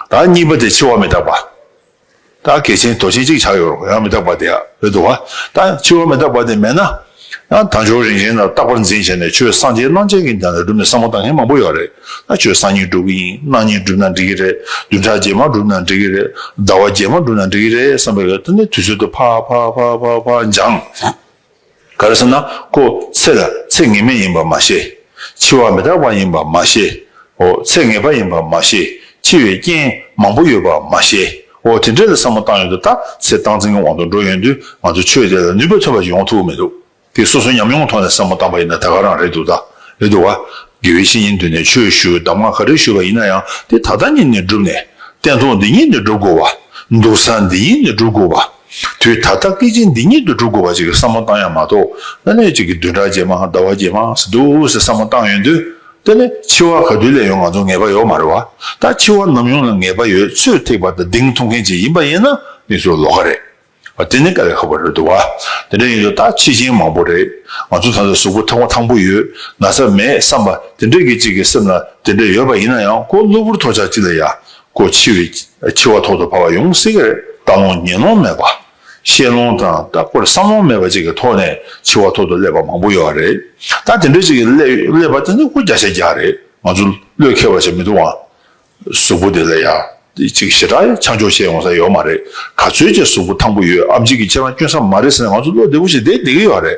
བདག་གཉིས་པ་དེ་འཆི་བ་མི་རྟག་པ། བདག་གལ་ཆེན་དོ་ཆེན་གཅིག་ཆགས་ཡོད་རོགས་ཡང་མི་རྟག་པ་དེ་བོད་དུ་བ། བདག་འཆི་བ་མི་རྟག་པ་དེ་མེད་ན། ན་དང་ཕྱོགས་རིང་རིང་ལ་རྟག་པར་འཛིན་བྱས་ནས་ཆོས་སངས་རྒྱས་གནང་བྱས་གིན་དེ་འདྲ་སྒྲུབ་ནས་བསམ་བློ་བཏང་མཁན་མང་པོ་ཡོད་རེད། ན་ཆོས་སངས་གཉིས་འགྲུབ་གི་ཡིན་གནང་གཉིས་འགྲུབ་ན་འགྲིག་གི་རེད་བདུན་ཕྲག་རྗེས་མ་འགྲུབ་ན་འགྲིག་གི་རེད་ཟླ་བ་རྗེས་མ་འགྲུབ་ན་འགྲིག་གི་རེད་བསམ་པའི་འོད་ཐ་ནི་དུས་ཚོད་དུ་ཕ་ཕ་ཕ་ཕ་ཕ་འབྱང། ག་རེ་ཟེར་ན་ཀོ་ཚེ་ལ་ཚེ་ངེས་མེད་ཡིན་པར་མ་ཤེས། འཆི་བ་མི་རྟག་པ་ཡིན་པར་མ་ཤེས། འོ་ཚེ་ངེས་པ་ཡིན་པར་མ་ཤེས། འཆི་བའི་རྐྱེན་མང་པོ་ཡོད་པར་མ་ཤེས། འོ་དེ་འདྲས་ལ་བསམ་བློ་བཏང་ཡོད་དུ་ད་ཚེ་སྟངས་འཛིན་གྱི་དབང་དུ་འགྲོ་ཡོད་དུས་ང་ཚོས་ཆོས་དེ་ལ་ནུས་པ་ཐོན་པ་ཞིག་ཡོང་ཐུབ་མི་འདུག་དེ་སོ་སོའི་ཉམས་མྱོང་གི་ཐོག་ནས་བསམ་བློ་བཏང་པ་ཡིན་ན་ད་ག་རང་རེད་འདུག་ད་རེད་འདུག་བ། དགེ་བའི་བཤེས་གཉེན་འདུས་ནས་ཆོས་ཞུ་གདམས་ངག་ག་རེ་ཞུས་པ་ཡིན་ན་ཡང་དེ་ད་ལྟ་ཉིད་ནས་བསྒྲུབས་ནས་བསྟན་ཐོག་འདི་ཉིད་ནས་བསྒྲུབ་དགོས་བ། འདུག་ས་འདི་ཉིད་ནས་བསྒྲུབ་དགོས་བ། དུས་ད་ལྟ་སྐད་ཅིག་འདི་ཉིད་དུ་འགྲོ་དགོས་པ་ཅིག་བསམ་བློ་བཏང་ཡ་མ་གཏོགས་ཨ་ནེ་ཅིག་གི་བདུན་ཕྲག་རྗེས་མ་ཟླ་བ་རྗེས་མ་ཟེར་འདུག་ཟེར་བསམ་བློ་བཏང་ཡོད་དུས་ད་ནི་འཆི་བ་ག་དུས་ལས་ཡོང་ང་ཚོ་ངེས་པ་ཡོད་མ་རེད་བ་ད་འཆི་བ་ནམ་ཡོང་ལ་ངེས་པ་ཡོད་ཚོད་ཐེག་པ་དང་གདེང་ཐོབ་མཁན་ཅིག་ཡིན་པ་ཡིན་ན་ནི་ཚོ་ལོ་ག་རེད་བ་དེ་ནི་ག་ལས་ཁག་པ་རེད་འདུག་བ་དེ་འདྲ་ཡིན་དུས་ད་འཆི་ཆེན་མང་པོ་རེད་ང་ཚོ་ད་ལྟ་གཟུགས་པོ་ཐང་པོ་ཐང་པོ་ཡོད་ན་ས་མེད་བསམ་པ་དེ་འདྲ་གི་ཅིག་གི་སེམས་ལ་དེ་འདྲ་ཡོད་པ་ཡིན་ན་ཡང་ཁོ་གློ་བུར་ཐོག་ཆག་ཅིག་ལ་ཡ་སྒོ་ཕྱེ་བའི་ཕྱེ་བ་ཐོག་ཏུ་བབས་པ་ཡོང་གསལ་གྱི་ལྟ་ལོང་ཉན་ལོང་མེད་པ། ཤེས་ལོང་དང་རྟག་པར་བསམ་ལོང་མེད་པ་བཅས་ཀྱི་ཐོག་ནས་ཕྱེ་བ་ཐོག་ཏུ་སླེབས་པ་མང་པོ་ཡོད་པ་རེད། ད་དེ་འདྲ་ཅིག་སླེབས་པ་དེ་ནི་སྐུ་བརྒྱ་ཆ་བརྒྱ་རེད། ང་ཚོ་བློས་འཁེལ་བ་བྱེད་མི་འདུག་ཨང། གཟུགས་པོ་དེ་ལ་ཡང་ཅིག་ཞེ་དྲག་ཆང་འཇོག་བྱེད་ཡོང་ས་ཡོད་མ་རེད། ག་ཚོད་ཀྱི་གཟུགས་པོ་ཐང་པོ་ཡོད་ཨམ་ཅིག་གིས་ཁྱེད་རང་སྐྱོན་ས་མ་རེད་ཟེར་ནས་ང་ཚོ་བློ་བདེ་པོ་ཞིག་བསྡད་བསྡད་ཀྱི་ཡོད་རེད།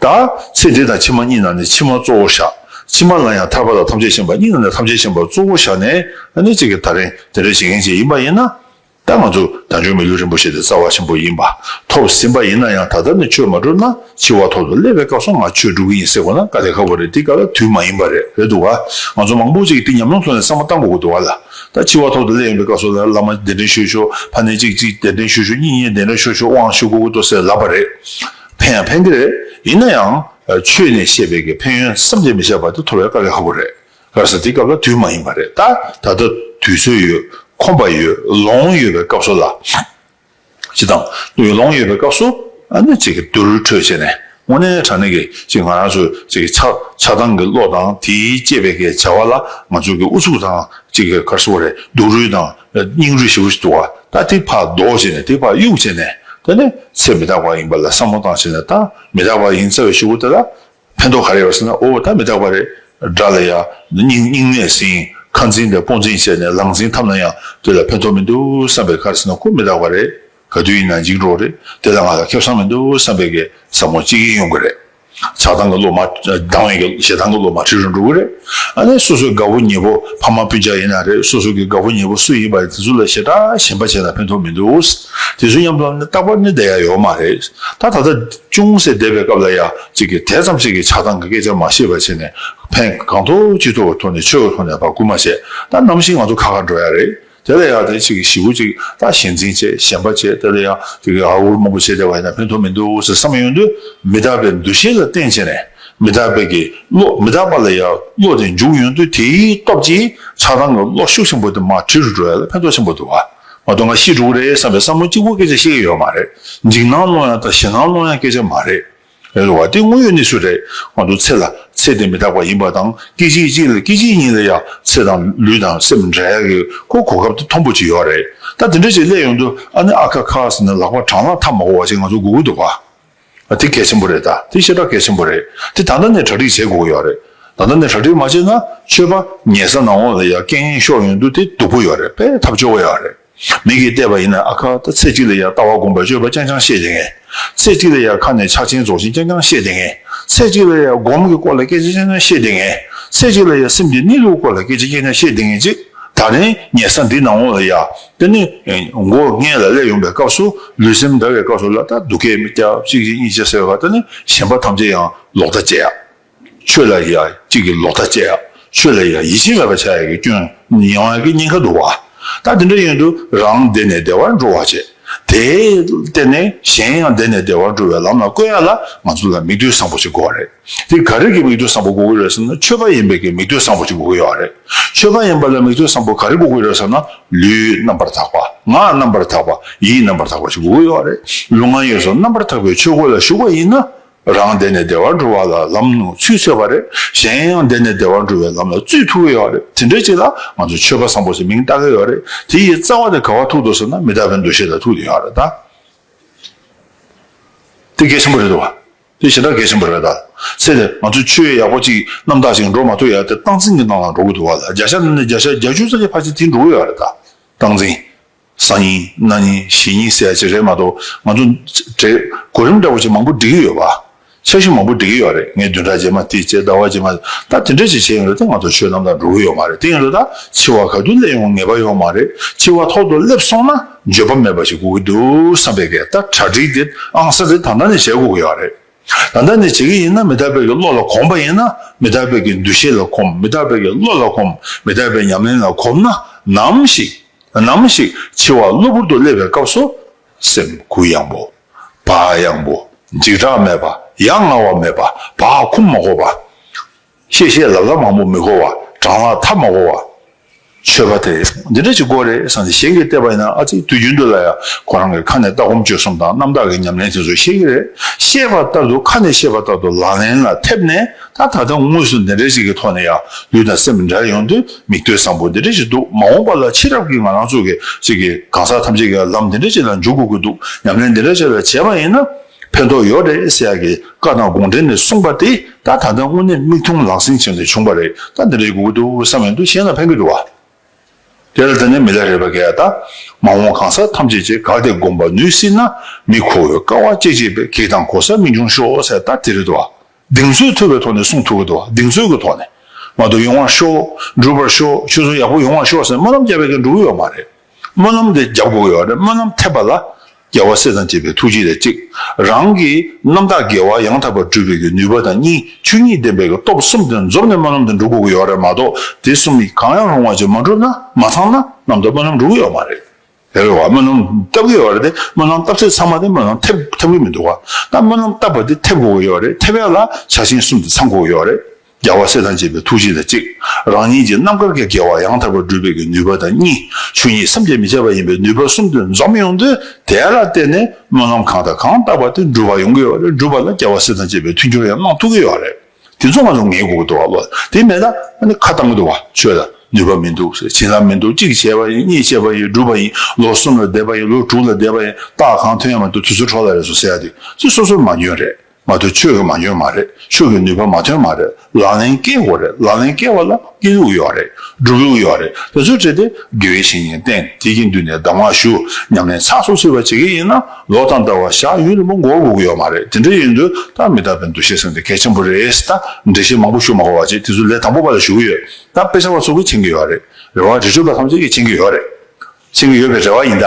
ད། ཚེ་འདི་དང་ཕྱི་མ་གཉིས་ན་ནི་ཕྱི་མ་གཙོ་བོར་བཞག། ཕྱི་མ་ལ་ཡང་ཐར་པ་དང་ཐམས་ཅད་མཁྱེན་པ་གཉིས་ན་ནི་ཐམས་ཅད་མཁྱེན་པར་གཙོ་བོར་བཞག་ནས་ནི་གཅིག་གི་ད་རིང་དེ་འདྲ་བྱེད་མཁན་གཅིག་ཡིན་པ་ཡིན་ན། ད་ང་ཚོ་བདག་འཇུག་མི་ལུས་རིན་པོ་ཆེ་དེ་རྩ་བ་ཆེན་པོ་ཡིན་པ་ཐོབ་ཟིན་པ་ཡིན་ན་ཡང་ད་ལྟར་ནས་ཆོས་མ་གྲུབ་ན་འཆི་བ་ཐོབ་ཏུ་སླེབས་པའི་སྐབས་སུ་ང་ཆོས་སྒྲུབ་ཀྱི་ཡིན་ཟེར་དགོས་ན་དཀའ་ལས་ཁག་པོ་རེད་འདི་ག་ལ་དུས་མ་ཡིན་པ་རེད་རེད་འདུག་ག་ང་ཚོ་མང་པོ་ཅིག་གིས་འདི་ཉམས་མྱོང་ཐོག་ནས་བསམ་བློ་གཏང་དགོས་དགོས་འདུག་ག་ལ་ད་འཆི་བ་ཐོབ་ཏུ་སླེབས་ཡོང་པའི་སྐབས་སུ་བླ་མ་གདན་འདྲེན་ཞུ་ཞུ་ཕ་ནི་གཅིག་གཅིག་གདན་འདྲེན་ཞུ་ཞུ་གཉིས་གཉིས་གདན་འདྲེན་ཞུ་ཞུ་དབང་ཞུ་དགོས་དགོས་འདུག་ཟེར་ལབ་པ་རེད། ཕན་ཡང་ཕན་གྱི་རེད། ཡིན་ན་ཡང། ཆོས་ནས་བཤད་པའི་གི་ཕན་ཡོན་བསམ་གྱིས་མི་ཁྱབ་པ་དེ་ཐོབ་པའི་དཀའ་གི་ཧ་གོ་རེད། ལར་ས་དེའི་སྐབས་ལ་དུས་མ་ཡིན་པ་རེད། ད་ལྟ་དུས་ཚོད་ཡོད། ཁོམ་པ་ཡོད། ལོང་ཡོད་པའི་སྐབས་སུ་ལ། ཅི་དང། ལོང་ཡོད་པའི་སྐབས་སུ། ཨ་ནི་ཅིག་གི་དུར་ཁྲོད་བྱས་ནས། དངོས་གནས་དྲང་གནས་ཀྱི་ཅིག་ང་རང་ཚོའི་ཅིག་གི་ཆགས་ཆགས་སྡང་གི་བློ་དང་དེའི་སྐྱེས་པའི་གི་བྱ་བ་ལ་ང་ཚོའི་གི་ཨུ་ཚུགས་དང་ཅིག་གི་གར་སོ་བ་རེད་སྡུག་རུས་དང། སྙིང་རུས་ཞིག་པོ་ཞིག་བཏུ་བ། ད་དེ་བར་ལྡོག་བྱས་ནས་དེ་བར་གཡུག་བྱས་ནས་ད་ནི་ཚེ་མི་རྟག་པ་ཡིན་པ་ལ་བསམ་བློ་བཏང་བྱས་ནས་ད་མི་རྟག་པ་ཡིན་ཚར་བའི་ཤོག་བུ་དེ་ལ་ཕན་ཐོགས་ག་རེ་ཡོད་ཟེར་ན་འོ་ད་མི་རྟག་པ་རེད་དྲ་ལ་ཡ། སྙིང་སྙིང་ནས་ཟིན་ཁ་འཛིན་པའི་སྤོ་འཛིན་བྱས་ནས་ལག་འཛིན་ཐབས་ན་ཡང་དེ་ལ་ཕན་ཐོགས་མི་འདུག་བསམ་པའི་ཁར་ཟེར་ན་ཁོ་མི་རྟག་པ་རེད་ག་དུས་ཡིན་ན་འཇིགས་འགྲོ་རེད་དེ་ལ་ང་ལ་ཁེབས་སང་མི་འདུག་བསམ་པའི་གས་ཟབ་མོ་གཅིག་ཡིན་ཡོང་གི་རེད། ཆགས་སྡང་གི་བློ་མ་སྡང་བས་ཞེ་སྡང་གི་བློ་མ་ཁྲིད་རུ་འགྲོ་གི་རེད། ཨ་ནི་སོ་སོའི་དགའ་བོ་ཉེ་བོ་ཕ་མ་སྤུན་ཆགས་ཡིན་ན་རེད་སོ་སོ་གི་དགའ་བོ་ཉེ་བོ་སུ་ཡིན་པ་དེ་ཚོ་ལ་ཞེ་དྲག་ཞེན་པ་བྱས་ན་ཕན་ཐོག་མི་འདུག་དེ་ཚོའི་ཉམས་ལ་ནི་རྟག་པར་ནི་བསྡད་ཡ་ཡོད་མ་རེད་ད། ད་ལྟ་ཅུང་ཟད་བསྡད་པའི་སྐབས་ལ་ཡ་ཅིག་གིས་དེ་ཙམ་ཞིག་གི་ཆགས་སྡང་གི་སྐད་ཆ་མ་ཤེས་པ་བྱས་ནས་ཕན་གང་ཐོག་ཅི་ཐོག་གི་ཐོག་ནས་ཆོས་ག་ཐོག་ནས་བར་བསྐུར་མ་བྱས་ད་ནམ་ཞིག་ང་ཚོ་ཁ་ཁར་འགྲོ་ཡ་རེད། དེ་ལ་ཡང་དེ་གཅིག་གིས་ཞི་བུ་གཅིག་ལ་ཞེན་འཛིན་བྱེད་གཞན་པ་བྱེད་དེ་ལ་ཡང་དེ་གིས་ཨ་འུར་མང་པོ་བྱེད་དེ་བས་ན་ཕན་ཐོགས་མི་འདུག་ཟེར་བསམ་ཡོང་དུས་མི་རྟག་པའི་འདུ་ཤེས་ལ་བརྟེན་བྱས་ནས་མི་རྟག་པའི་གི་བློ་མི་རྟག་པ་ལ་ཡང་བློ་དེ་འཇུག་ཡོང་དུས་དེའི་སྟོབས་ཀྱིས་ཆགས་སྡང་གི་བློ་ཤུགས་ཆེན་པོ་དེ་མ་དྲིལ་འགྲོ་བས་ལ་ཕན་ཐོགས་ཆེན་པོ་འདུག་བ་མ་གཏོགས་ང་ཤི་འགྲོ་གི་རེད་བསམ་པའི་བསམ་བློ་གཅིག་པོ་སྐད་ཆ་བཤད་ཀྱི་ཡོད་མ་རེད་འཇིགས་སྣང་སློང་ཡང་དང་ཞེད་སྣང་སློང་ཡང་སྐད་ཆ་མ་རེད། ཡོད་དོ། དེ་དངོས་ཡོད་གནས་ཚུལ་རེད། ང་ཚོ་ཚེ་ལ་ཚེ་དེ་མི་རྟག་པ་ཡིན་པ་དང་སྐད་ཅིག་གཅིག་ལ་སྐད་ཅིག་ཉིད་ལ་ཡང་ཚེ་དང་ལུས་དང་སེམས་མི་འདྲ་གི་ཁོ་གོ་སྐབས་དེ་མཐོང་པོ་ཅིག་ཡོད་རེད་ད་དེ་འདྲ་ཅིག་སླད་ཡོང་དུས་ཨ་ནི་ཨ་ཁ་ཁ་ཟེར་ནས་ལག་པ་བྲང་ལ་འཐམ་མ་གོ་བ་ཅིག་ང་ཚོ་དགོས་ཀྱི་འདུག་ག་དེ་གལ་ཆེན་པོ་རེད་ད་དེ་ཤེས་རྟགས་གལ་ཆེན་པོ་རེད་དེ་ད་ལྟ་ནས་གྲ་སྒྲིག་བྱེད་དགོས་ཀྱི་ཡོད་རེད་ད་ལྟ་ནས་གྲ་སྒྲིག་མ་བྱས་ན་ཆོས་པ་ཉལ་ས་ནང་འོག་ལ་ཡ་སྐད་ངན་ཤོར་ཡོང་དུས་དེ་སྡུག་པོ་ཡོད་རེད་དཔེ་ཐབས་སྤྱོད་དགོས་ཡོད་རེད། མིག་གིས་བལྟས་པ་ཡིན་ན་ཨ་ཁ་ད་ཚེ་གཅིག་ལ་ཡང་ལྟ་བ་སྒོམ་པའི་སྤྱོད་པ་རྐྱང་རྐྱང་ཤེས་བསྡད་ངེས། ཚེ་གཅིག་ལ་ཡང་ཁ་ནས་ཕྱག་ཆེན་རྫོགས་ཆེན་རྐྱང་རྐྱང་ཤེས་བསྡད་ངེས། ཚེ་གཅིག་ལ་ཡང་སྒོམ་གྱི་སྐོར་ལ་སྐད་ཆ་རྐྱང་རྐྱང་ཤེས་བསྡད་ངེས། ཚེ་གཅིག་ལ་ཡང་སེམས་ཀྱི་གནས་ལུགས་སྐོར་ལ་སྐད་ཆ་རྐྱང་རྐྱང་ཤེས་བསྡད་ངེས། ཅེས་ད་རིང་ཉལ་ས་འདི་ན་འོངས་ལ་ཡ། དེ་ནི་མགོ་སྔས་ལ་སླེབས་ཡོང་པའི་སྐབས་སུ་ལུས་སེམས་འདར་བའི་སྐབས་སུ་ལ་ད་སྡུག་སྐད་སྐྱ་གཅིག་གཅིག་གཉིས་གཅིག་ཟེར་བ་ལྟར་ད་ནི་གཞན་པ་ཐམས་ཅད་ཡང་ལོག་ལྟ་བྱེད་ཡ། ཆོས་ལ་ཡང་གཅིག་གིས་ལོག་ལྟ་སྤྱད་ཡ། ཆོས་ལ་ཡང་ཡིད་ཆེས་མེད་པར་བྱ་ཡ་གི་སྐྱོན་ཡིན་བ་གི་ཉེན་ཁ་འདུག་བ། ད་དེ་འདྲ་ཡིན་དུས་རང་བདེ་ནས་བདེ་བར་འགྲོ་བར་བྱེད། དེས་བརྟེན་ནས་གཞན་ཡང་བདེ་ནས་བདེ་བར་འགྲོ་བའི་ལམ་ལ་བཀོད་ཡ་ལ་ང་ཚོ་ལ་མིག་ལྟོས་བཟང་པོ་ཞིག་དགོས་བ་རེད། དེ་ག་རེ་གི་མིག་ལྟོས་བཟང་པོ་དགོས་ཀི་རེད་ཟེར་ན་ཆོས་པ་ཡིན་པའི་གི་མིག་ལྟོས་བཟང་པོ་ཞིག་དགོས་ཀི་ཡོད་བ་རེད། ཆོས་པ་ཡིན་པ་ལ་མིག་ལྟོས་བཟང་པོ་ག་རེ་དགོས་ཀི་རེད་ཟེར་ན་ལུས་རྣམ་པར་དག་པ། ངག་རྣམ་པར་དག་པ། ཡིད་རྣམ་པར་དག་པ་ཞིག་དགོས་ཀི་ཡོད་བ་རེད། ལུས་ངག་ཡིད་སོགས་རྣམ་པར་དག་པའི་ཆོས་སྒོ་ལ་ཞུགས་པ་ཡིན་ན་རང་བདེ་ནས་བདེ་བར་འགྲོ་བ་ལ་ལམ་ནོར་ཚུལ་འཚོལ་བ་རེད། གཞན་ཡང་བདེ་ནས་བདེ་བར་འགྲོ་བའི་ལམ་ལ་བཙུད་ཐུག་གི་ཡོད་རེད། དེ་འདྲའི་ཅིག་ལ་ང་ཚོས་ཆོས་པ་བཟང་པོ་ཞེས་མིང་བཏགས་ཀྱི་ཡོད་རེད། དེ་ཡི་རྩ་བ་དེ་ག་བ་ཐུག་འདུག་ཟེར་ན་མི་དག་པའི་འདུ་ཤེས་ལ་ཐུག་ཡོད་རེད་ད། དེ་གལ་ཆེན་པོ་རེད་འདུག་བ། དེ་ཞེ་དྲག་གལ་ཆེན་པོ་རེད་ད། ཚེ་འདིར་ང་ཚོས་ཆོས་ཡག་པོ་ཅིག་རྣམ་དག་ཅིག་འགྲོ་མ་ཐུབ་ཡང་དེ་སྟངས་འཛིན་གྱི་སྟངས་ལ་འགྲོ་གི་འདུག་བ་ལ་བརྒྱ་ཆ་ནས་བརྒྱ་ཆ་བརྒྱ་བཅུ་རྩ་གཅིག་ཕར་ཆེར་དེ་འགྲོ་གི་ཡོད་རེད་ད། སྟངས་འཛིན། གསང་སྙིང་རྣ་སྙིང་གཞི་སྙིང་གསལ་བྱེད་རེད་མ་གཏོགས་ང་ཚོ་གོ་རིམ་འདྲ་བོ་ཅིག་མང་པོ་འབྲི་གི་ཡོད་པ། འཆར་གཞི་མང་པོ་འབྲི་གི་ཡོད་རེད་ངས་བདུན་ཕྲག་རྗེས་མ་དེ་བྱས་ཟླ་བ་རྗེས་མ་ད་དེ་འདྲ་ཅིག་བྱས་ཡོང་རེད་ད་ང་ཚོ་ཆོས་རྣམས་དང་འགྲོ་གི་ཡོད་མ་རེད་དེ་ཡིན་ལ་ད་འཆི་བ་ག་དུས་སླེབས་ཡོང་ངེས་པ་ཡོད་མ་རེད་འཆི་བ་ཐོག་ཏུ་སླེབས་སོང་ན་བརྗོད་པ་མེད་པ་ཞིག་དགོས་ཀྱི་འདུག་བསམ་པའི་སྐད་ད་གྲ་སྒྲིག་དེ་ཨང་གསར་དེ་ད་ལྟ་ནས་བྱེད་དགོས་ཀྱི་ཡོད་རེད། ད་ལྟ་ནས་བྱེད་ཀྱི་ཡིན་ན་མི་རྟག་པའི་བློ་ལ་གོམས་པ་ཡིན་ན་མི་རྟག་པའི་འདུ་ཤེས་ལ་གོམས་མི་རྟག་པའི་བློ་ལ་གོམས་མི་རྟག་པའི་ཉམས་ལེན་ལ་གོམས་ན་ནམ་ཞིག་ནམ་ཞིག་འཆི་བ་གློ་བུར་དུ་སླེབས་པའི་སྐབས་སུ། སེམས་གུ་ཡངས་པོ། བག་ཡངས་པོ། འཇིགས་སྐྲག་མེད་པ། ཡ་ང་བ་མེད་པ། བག་འཁུམས་མ་གོ་བ། གཤེ་གཤེ་ལབ་ལབ་མང་པོ་མི་གོ་བ། གྲང་ལ་ཐབས་མ་གོ་བ། ཆོས་པ་དེ་འདི་འདྲ་ཅིག་གོ་རེ་བསམ་སྟེ་གཞན་གྱིས་བལྟས་པ་ཡིན་ན་ཨ་ཙི་དུས་རྒྱུན་དུ་ལ་ཡ་ཁོ་རང་གི་ཁ་ནས་ལྟ་སྒོམ་སྤྱོད་གསུམ་དང་རྣམ་དག་གི་ཉམས་ལེན་དེ་ཚོ་ཤེས་ཀྱི་རེད་ཤེས་པ་ལྟར་དུ་ཁ་ནས་ཤེས་པ་ལྟར་དུ་ལག་ལེན་ལ་ཐེབས་ནས་ད་ད་ལྟ་དངོས་སུ་འདི་འདྲ་ཅིག་གི་ཐོག་ནས་ཡ་ལུས་དང་སེམས་འདྲ་ཡོང་དུས་མིག་ལྟོས་བཟང་པོ་འདི་འདྲ་ཅིག་འདུག་མ་འོངས་པ་ལ་ཕྱི་རབས་ཀྱི་ང་རང་ཚོ་གི་ཅིག་གིས་གང་ཟག་ཐམས་ཅད་ཀྱི་ལམ་འདི་འདྲ་ཅིག་ལ་འཇུག་དགོས་ཀྱི་འདུག་ཉམས་ལེན་འདི་འདྲ་ཅིག་ལ་བྱས་པ་ཡིན་ན། ཕན་ཐོགས་ཡོད་རེད་ཟེར་ཡག་གི་བཀའ་དང་དགོངས་འགྲེལ་ནས་གསུངས་པ་དེ་ད་ད་ལྟ་དངོས་གནས་མིག་མཐོང་ལག་ཟིན་བྱས་ནས་བྱུང་པ་རེད་ད་འདི་འདྲའི་དགོས་ཀྱི་འདུག་བསམ་ཡོང་དུས་གཞན་ལ་ཕན་གྱི་འདུག་དེ་ལ་ད་ནས་མི་ལ་རེ་བ་ག་ཡ་ད་མ་འོངས་གང་ཟག་ཐམས་ཅད་ཀྱི་དགའ་བདེ་སྒོམ་པ་ནུས་སྲིད་ན་མི་ཁོ་བོའི་དཀའ་བ་སྐྱེ་སྐྱེ་བའི་གེགས་དང་གོ་ས་མི་འབྱུང་ཤོག་ཟེར་ད་དེ་རེད་འདུག་གདེང་ཚོད་ཐུབ་པའི་ཐོག་ནས་གསུངས་ཐུབ་ཀྱི་འདུག་གདེང་ཚོད་ཀྱི་ཐོག་ནས་མ་གཏོགས་ཡོང་བར་ཤོག་འགྲུབ་པར་ཤོག་ཆོས་ཚོགས་ཡག་པོ་ཡོང་བར་ཤོག་ཟེར་སྨོན་ལམ་བརྒྱ་བས་ཀྱང་འགྲུབ་ཀྱི་ཡོད་མ་རེད། སྨོན་ལམ་དེ་རྒྱབ་འགོག་ཡོད་རེད་སྨོན་ལམ་ཐེབས་པ་ལ་རྒྱལ་བ་སྲས་དང་བཅས་པའི་ཐུགས་རྗེ་ལས་གཅིག་རང་གི་རྣམ་དག་དགེ་བ་ཡང་དག་པར་སྒྲུབ་པའི་གི་ནུས་པ་དང་གཉིས་ཆོས་ཉིད་བདེན་པའི་གི་སྟོབས་གསུམ་དེ་འཛོམས་ནས་སྨོན་ལམ་དེ་འགྲུབ་དགོས་གི་ཡོད་རེད་མ་གཏོགས་དེ་གསུམ་གྱི་གང་ཡང་རུང་བ་ཅིག་མ་འགྲུབ་ན་མ་ཚང་ན་ནམ་དུ་སྨོན་ལམ་འགྲུབ་གི་ཡོད་མ་རེད། དེ་བས་བ་སྨོན་ལམ་བཏབ་གི་ཡོད་རེད་དེ་སྨོན་ལམ་བཏབ་ཚེ་ཚང་མ་དེ་སྨོན་ལམ་ཐེབས་ཐེབས་གི་མི་འདུག་ག་ད་སྨོན་ལམ་བཏབ་པ་དེ་ཐེབས་དགོས་གི་ཡོད་རེད་ཐེབས་ཡ་ལ་བྱ་བྱིན་གསུམ་དེ་ཚང་དགོས་གི་ཡོད་རེད། རྒྱལ་བ་སྲས་དང་བཅས་པའི་ཐུགས་རྗེ་ལ་གཅིག། རང་ཉིད་ཀྱི་རྣམ་དཀར་གྱི་དགེ་བ་ཡང་དག་པར་བསྒྲུབ་པའི་ཀྱི་ནུས་པ་དང་གཉིས། ཆོས་ཉིད་སེམས་བསྐྱེད་མི་བྱ་བ་ཡིན་པས་ནུས་པ་གསུམ་དུ་འཛོམས་ཡོང་དུས་དེ་ལ་བརྟེན་ནས་སྨོན་ལམ་གང་དང་གང་བཏབ་པ་དེ་འགྲུབ་པ་ཡོང་གི་ཡོད་རེད་འགྲུབ་པ་ལ་རྒྱལ་བ་སྲས་དང་བཅས་པའི་མཐུན་འགྱུར་ཡང་གནང་ཐུབ་ཀྱི་ཡོད་རེད། དེ་ཚོ་ང་ཚོ་ངེས་དགོས་ཀྱི་འདུག་བ་ལོ་དེ་མེད་ན་ཁ་བཏང་གི་འདུག་བ་ཆོས་ལ་ནུས་པ་མི་འདུག་བྱིན་རླབས་མི་འདུག་གཅིག་བྱས་པ་ཡིན་གཉིས་བྱས་པ་ཡིན་འགྲུབ་པ་ཡིན་ལོ་གསུམ་ལ་བསྡད་པ་ཡིན་ལོ་དྲུག་ལ་བསྡད་པ་ཡིན་རྟགས་གང་ཐོན་ཡང་མ་འདུག་དུས་ཚོད་འཕྲོ་ལ་རེད་སོ་ཟེར་ཡ་དེ་ཚོ་སོ་སོར་མ་འཇོན་རེད། མ་མཐོ་ཆོས་ཀྱི་མ་འཇོན་མ་རེད་ཆོས་ཀྱི་ནུས་པ་མ་ཐོན་མ་རེད་ལག་ལེན་བཀལ་དགོས་རེད་ལག་ལེན་བཀལ་བ་ལ་སྐྱིད་ལུགས་ཡོད་རེད་སྒྲུབ་ལུགས་ཡོད་རེད་དེ་ཚོ་བྲིས་ཏེ་དགེ་བའི་བཤེས་གཉེན་བསྟེན་དེ་གི་མདུན་ནས་གདམས་ངག་ཞུ་ཉམས་ལེན་ཚགས་ཚུགས་ཚུད་པ་བྱེད་ཀྱི་ཡིན་ན་ལོ་ཐམ་ལྟ་བ་བཞག་ཡུན་རིང་པོ་འགོར་དགོས་ཀྱི་ཡོད་མ་རེད་དེ་འདྲ་ཡིན་དུས་ད་མི་རྟག་པའི་འདུ་ཤེས་ཟེར་དེ་གལ་ཆེན་པོ་རེད་ད་འགྲེལ་བཤད་མང་པོ་ཞུ་མ་གོ་བ་བྱས་དེ་ཚོ་ལས་དང་པོ་པ་ལ་ཞུ་གི་ཡོད་ད་དཔེ་ཆ་བ་ཚོ་གི་མཁྱེན་གྱི་ཡོད་རེད་རེ་བ་རི་ཁྲོད་པ་ཐམས་ཅད་ཀྱི་མཁྱེན་གྱི་ཡོད་རེད་མཁྱེན་གྱི་ཡོད་པའི་རེ་བ་ཡིན་ད།